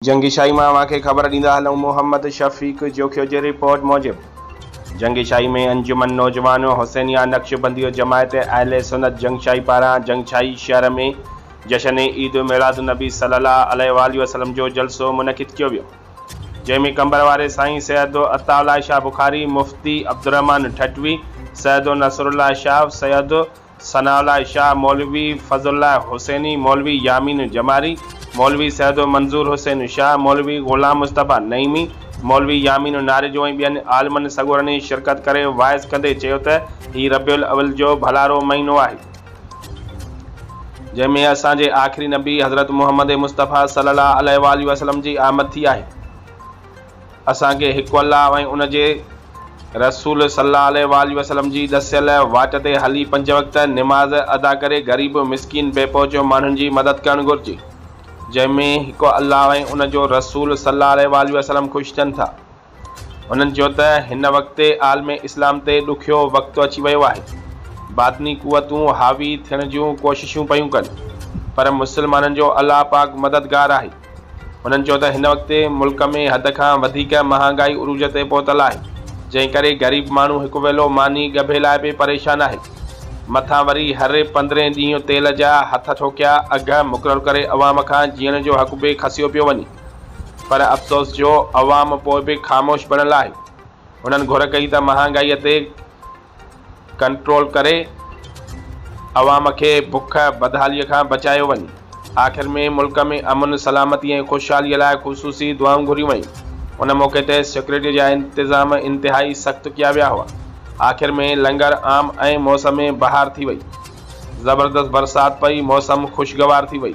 جنگي شاهي مان اوهان کي خبر ڏيندا هلون محمد شفيق جوکيو جي رپورٽ موجب جنگي شاهي ۾ انجمن نوجوان حسينيه نقشبنديه جماعت اهل سنت جنگ شاهي پاران جنگ شاهي شهر ۾ جشن عيد ميلاد النبي صلي الله عليه واٰله وسلم جو جلسو منعقد ڪيو ويو جنهن ۾ قمبر واري سائين سيد عطاء الله شاهه بخاري مفتي عبدالرحمان ٺٽوي سيد نصرالله شاهه سيد ثناء الله شاهه، مولوي فضل الله حسيني، مولوي يامين جماري، مولوي سيدو منظور حسين شاهه، مولوي غلام مصطفيٰ نعيمي، مولوي يامين ناريجو ۽ ٻين عالمن سڳورن ئي شرڪت ڪري واعظ ڪندي چيو ته هي ربيع الاول جو ڀلارو مهينو آهي جنهن ۾ اسان جي آخري نبي حضرت محمد مصطفيٰ صلي الله عليه واٰله وسلم جي آمد ٿي آهي. اسان کي هڪ الله ۽ ان جي رسول صلّي الله عليه واٰله وسلّم جي ڏسيل واٽ تي هلي پنج وقت نماز ادا ڪري غريب، مسڪين، بي پهچ ماڻهن جي مدد ڪرڻ گهرجي، جنهن ۾ هڪ الله ۽ ان جو رسول صلّي الله عليه واٰله وسلّم خوش ٿين ٿا. هنن چيو ته هن وقت عالم اسلام تي ڏکيو وقت اچي ويو آهي، باطني قوتون حاوي ٿيڻ جون ڪوششون پيون ڪن، پر مسلمانن جو الله پاڪ مددگار آهي. هنن چيو ته هن وقت ملڪ ۾ حد کان وڌيڪ مهانگائي عروج تي پهتل آهي، جنهن ڪري غريب ماڻهو هڪ ويلو ماني ڳڀي لاء به پريشان آهي، مٿان وري هر پندرهين ڏينهن تيل جا هٿ ٺوڪيا اگهه مقرر ڪري عوام کان جيئڻ جو حق به کسيو پيو وڃي پر افسوس جو عوام پوء به خاموش بڻيل آهي، هنن گهر ڪئي ته مهانگائي تي ڪنٽرول ڪري عوام کي بک بدحالي کان بچايو وڃي آخر ۾ ملڪ ۾ امن سلامتي ۽ خوشحالي لاء خصوصي دعائون گهريون ويون ان موقعي تي سيڪيورٽي جا انتظام انتهائي سخت ڪيا ويا هئا آخر ۾ لنگر عام ۽ موسم بهار ٿي وئي زبردست برسات پئي موسم خوشگوار ٿي وئي.